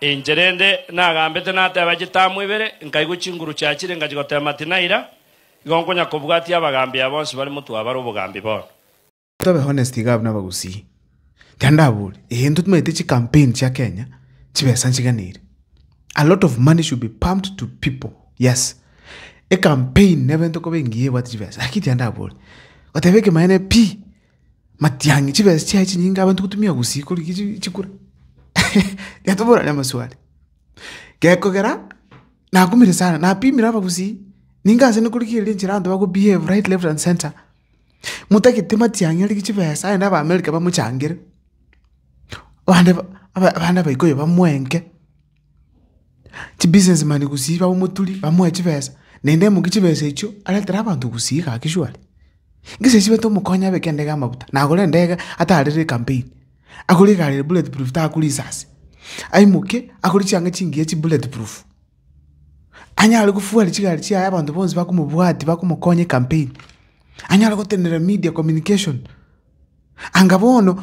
Inche rende nagambete nateba chitamu ibere, nkaigwa chinguru chiachire nkachigotema tinaira, igo nkonya kobwatia abagambi aba bonsi bare motwabare obogambi bono. Tobe honest iga buna abagusii. Ekero ndabori, ee intwe timaete chi campaign chia Kenya chibesa nchiganeire. A lot of money should be pumped to people, yes. E campaign neba into koba engiya ebwate chibesa, lakini tiga ndabori. Goteba ekemo aye ne pi. Matiang'i, chibesa chiaye chinyinge abanto gotumia gusii korigia chi- chikura? Getoborane amaswali. Gekogera nakumire sana, napimire abagusii, ninga ase nkorigia eria enchera abanto bakobehave right, left and centre. Motagete matiang'i arigie chibesa aende abaamerika bamochangere, abande ba- aba- abande abaikoyo bamoenke. Chibusinessman gosii abamoturi bamoe chibesa, naende amokie chibesa echio aretere abanto gosii iga ake shwari. Ngesae ase baito omokonye abeke endege amafuta, nagore endege atarire ecampaign, agore egari eye bullet proof takure risasi, aimoke agure chianga chingiya chi bullet proof, anyare kofuara chigari chiaye abanto bonsi bakomobwati bakomokonya ecampaign, anyare gotenena media communication. Anga bono.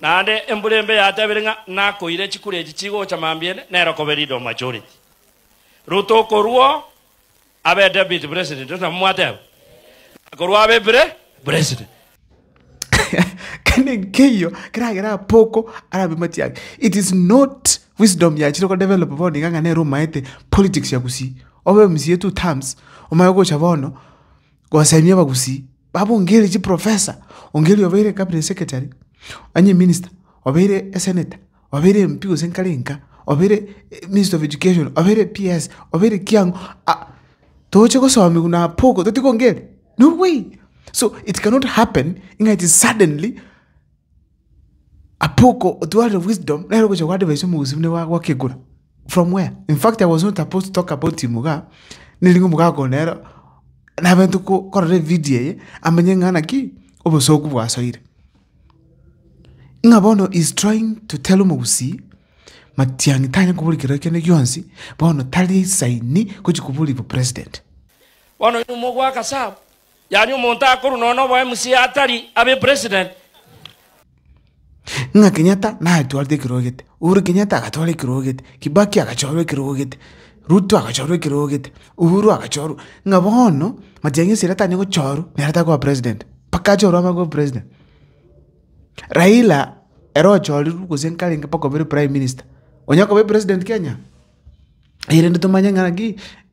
Naende embura embe yatebire ng'a nakoire chikura echi chigocha mambia ende nero kobe leader of majority. Ruto okorua abe deputy president tori nabwo mwateba? Akorua abe pre president. Kende nkeiyo keragere Apoko arabe mati ake. It is not wisdom yachire ko develop bono iga ng'a nere omaete politics ya Gusii. Obe mca two terms omaye gocha bono gosaimia abagusii, babo ongerie chiprofesa, ongerie obeire cabinet secretary, onye minister, obeire esenator, obeire MP gose nkare nka, obeire minister of education, obeire PS, obeire ki ang'o, ah togochia gosomia buna apoko toti kongeria, no way! So it cannot happen ng'a ati suddenly. Apoko otwarire wisdom nere ogocha go advise omogusii buna iga agwake ekura from where? In fact I was not supposed to talk about him igaa, nere nigo omogaka one nere nabente ko korora evidio eye amenye ng'a ng'ana ki? Obosoku bwasoire. Ng'a bono he is trying to tell omogusii matiang'i tanya koboria kero kende gionsi bono tari saini gochi koboria bo president. Bono oyo nomo ogwaka sub Yaani omonto akorwa nonya noba o MCA atari abe president. Ng'a Kenyatta natwarete ekirogete, Uhuru Kenyatta agatwara ekirogete, Kibaki agachorwa ekirogete, Ruto agachorwa ekirogete, Uhuru agachorwa, ng'a bono Matiang'i esira tanya gochorwa nere takoba president, mpaka achorwe abagwe o president. Raila ere ochorirwe gose nkarenge mpaka obeire prime minister, onya koba president Kenya? Erinde tomanye ng'a naki.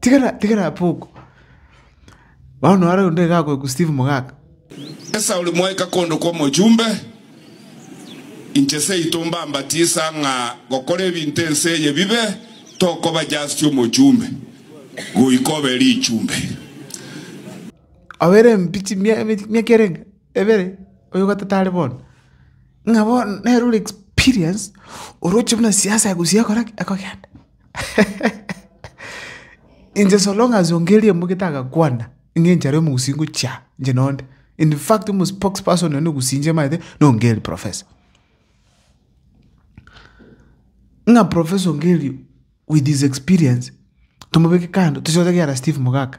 tigana tigana apo oko. Bono naro onde iga agoikwa Steve Mogaka. Esauli mwaika kondo kw'omochumbe, inche seito mbambatisa ng'a gokora ebinto ense eye bibe, tokoba just omochumbe, goika obe richumbe. Obere mbichi mia mia miaka erenge. ebere oyo gatete are bono, ng'a bono nere ore experience oroche buna siasa egosuia ekore ki? Ekogenda. Inche so long as ongeria embugete agakwana, ng'a enchera ya omogusii ngochia aa, inche nonde. Infact omo spokes person one ogusii inche maete na ongeri professor. Ng'a professor ongeri with his experience, tomobeke kando, tochie goteba ekiagera Steve Mogaka.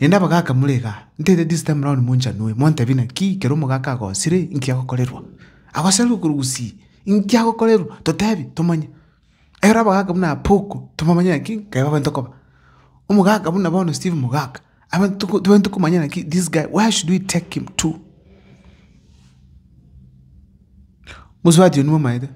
Naende abagaaka more igaa, ntaete this time round monchanue, montebi naki ekero omogaka agosire inki agokorerwa. Agoserire okoru gusii, inki agokorerwa, totebi, tomanye. Ekero abagaaka buna Apoko, tobamanye naki ekero babwenerete okoba. Omogaka buna bono Steve Mogaka, abwenerete toko tobwenerete komanya naki this guy where should we take him to. Mosubati oyio nigo omaete.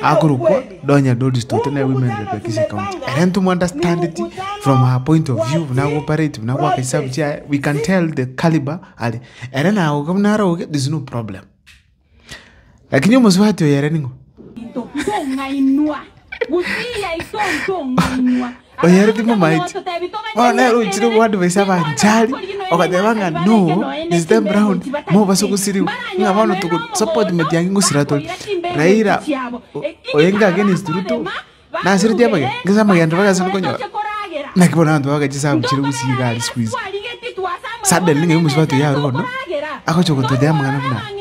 Akorokwa Doña Doris Tote nere women rep ya Kisii County. Ere ntomo understand it from her point of view buna ago operate buna agoaka esabu chiaye we can tell the caliber are. Ere naoga buna are oge there's no problem. Lakini omosubati oyo ere ning'o? oyere timomaeti, bono nere ochire goadvisa abanchari, ogateba ng'a no, this time round mobaso gosiriwa, ng'a bono togosupport matiang'i ngosira tore. Raila oenge against Ruto, nasireti amagena, ngesaa amagena ribaga ase rikonyora, naki bono abanto bagoaka chisagu chire gose iga aria siku hizi. Suddenly ng'ai omosubato yaru bono, agocha gototebia amang'ana buna aya.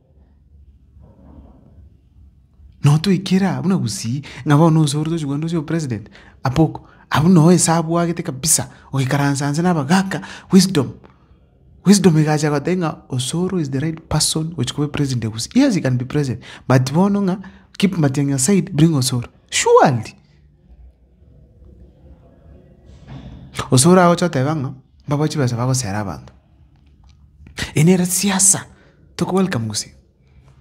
Notoikere aa buna gusii ng'a bono nonsi ore tochigokora ndoche opresident apoko abwo noe ase abwagete kabisa oikaransa nse nabagaka wisdom wisdom egacha egotebia ng'a osoro is the right person gochia koba president of gusii yes he can be president but bono ng'a keep matiang'i aside bring osoro surely osoro agocha oteba ng'a mbabae chibesa bagosera abanto. Eye nere siasa toko welcome gose?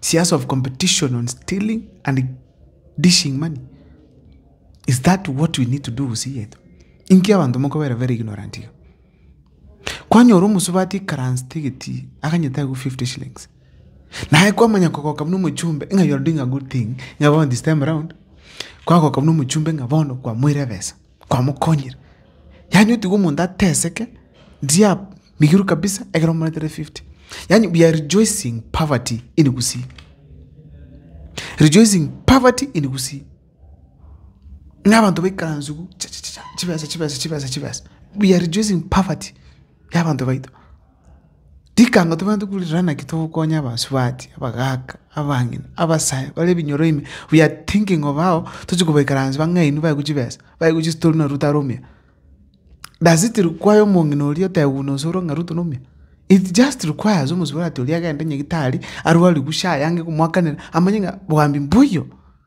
Siasa of competition on stealing and dishing money? Is that what we need to do gose yetu? Inki abanto mokobera very ignorant iga? Kwanyora omosubati ekaransete egetii aganyete agwo 50 shillings. Naye kwamanya kogoka buna omochumbe ng'a you are doing a good thing ng'a bono this time round kwagoka buna omochumbe ng'a bono kwamoire ebesa. kwamokonyire. Yaani otiga omonto ateseke ndia migiru kabisa ekero omoretire fifty. Yaani we are rejoicing poverty in Gusii. Rejoicing poverty in Gusii. Ng'a abanto baikaranse igu chachachacha chibesa chibesa chibesa chibesa. We are rejoicing poverty ya abanto baito. Rikango tobwenerete korirora naki togokonya abasubati, abagaka, abang'ina, abasae bare ebinyoro ime, we are thinking of how tochi kobaikaransa bang'aini baeku chibesa, baeku chistori na ruto are omuya. Does it require omong'ina oria otebi buna ase ore ng'a ruto nomuya? It just requires omosubati oria agende nyagitari arwarigwe sha ayange komoakanera amanye ng'a boambe mbuya oo.